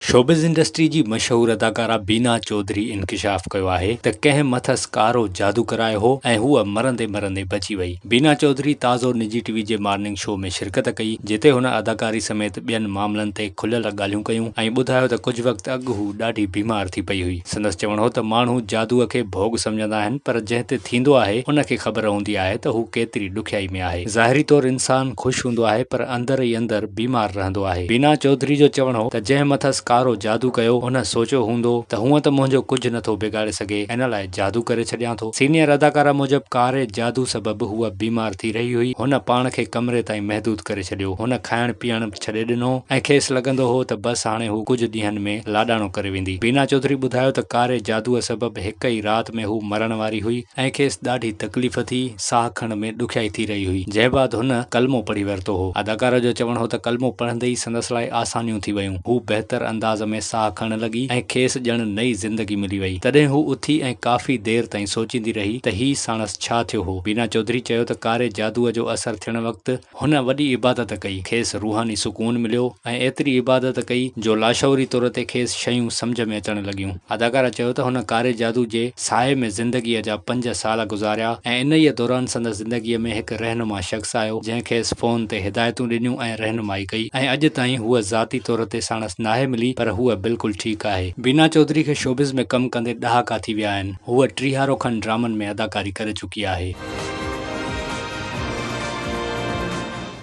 Showbiz industry جي مشهور اداڪارا بينا چوڌري انڪشاف ڪيو آهي ته ڪنهن مٿس ڪارو جادو ڪرايو هو ۽ هوء مرندي مرندي بچي وئي. بينا چوڌري تازو نجي ٽي وي جي مارننگ شو ۾ شرڪت ڪئي جتي هن اداڪاري سميت ٻين معاملن تي کليل ڳالهيون ڪيون ۽ ٻڌايو ته ڪجهه وقت اڳ هو ڏاڍي بيمار ٿي پئي هئي. سندس چوڻ هو ته ماڻهو جادوء کي ڀوڳ سمجهندا آهن پر جنهن تي ٿيندو آهي ان کي خبر هوندي آهي ته هو ڪيتري ڏکيائي ۾ آهي. ظاهري طور انسان خوش هوندو آهي پر اندر ئي اندر بيمار رهندو آهي. بينا چوڌري جو چوڻ هو ته جنهن مٿس ڪارو جادو ڪيو ان سوچيو هوندو ته هونئن ته منهنجو ڪجهه نٿو بگاڙي سگهي ان لاء جادو ڪري ڇڏيان ٿو. سينيئر اداڪارا موجب ڪاري جادو سبب هوء بيمار ٿي رهي هئي، هن پاڻ کي ڪمري تائين محدود ڪري ڇڏيو، هن کائڻ پيئڻ به ڇڏي ڏنو ۽ کيس لڳندو هو ته بس هاڻي هو ڪجهه ڏينهن ۾ لاڏاڻو ڪري ويندي. بينا چوڌري ٻڌايو ته ڪاري جادوء سبب هڪ ئي رات ۾ هو مرڻ واري هئي ۽ کيس ڏاڍي تڪليف ٿي، ساهه کڻڻ ۾ ڏکيائي ٿي رهي هئي، جنهن بعد هن ڪلمو پڙهي ورتو هو. اداڪاره جو چوڻ هو ته ڪلمو پڙهندي ئي سندس لاء آسانيون ٿي ويون، هو بهتر انداز ۾ ساهه کڻڻ لڳي ۽ کيس ڄڻ نئين زندگي ملي وئي. تڏهن هو اٿي ۽ ڪافي دير تائين سوچيندي رهي ته هي ساڻس ڇا ٿيو هو. بينا چوڌري چيو ته ڪاري جادوء جو اثر ٿيڻ وقت هن وڏي عبادت ڪئي، کيس روحاني سڪون مليو ۽ ايتري عبادت ڪئي جو لاشعوري طور تي کيس شيون سمجهه ۾ اچڻ لڳيون. اداڪارا چيو ته هن ڪاري جادو جي سايي ۾ زندگيء جا پنج سال گذاريا ۽ انهيء دوران سندس زندگيء ۾ هڪ رهنما شخص آيو، جنهن کيس فون تي هدايتون ڏنيون ۽ رهنمائي ڪئي ۽ اڄ تائين هوء ذاتي طور تي ساڻس ناهي ملي پر هوء بلڪل ٺيڪ آهي. بينا چوڌري کي شوبز ۾ ڪم ڪندي ڏهاڪا ٿي ويا آهن. هوء ٽيهارو کن ڊرامن ۾ اداڪاري ڪري چڪي آهي. چڪي آهي.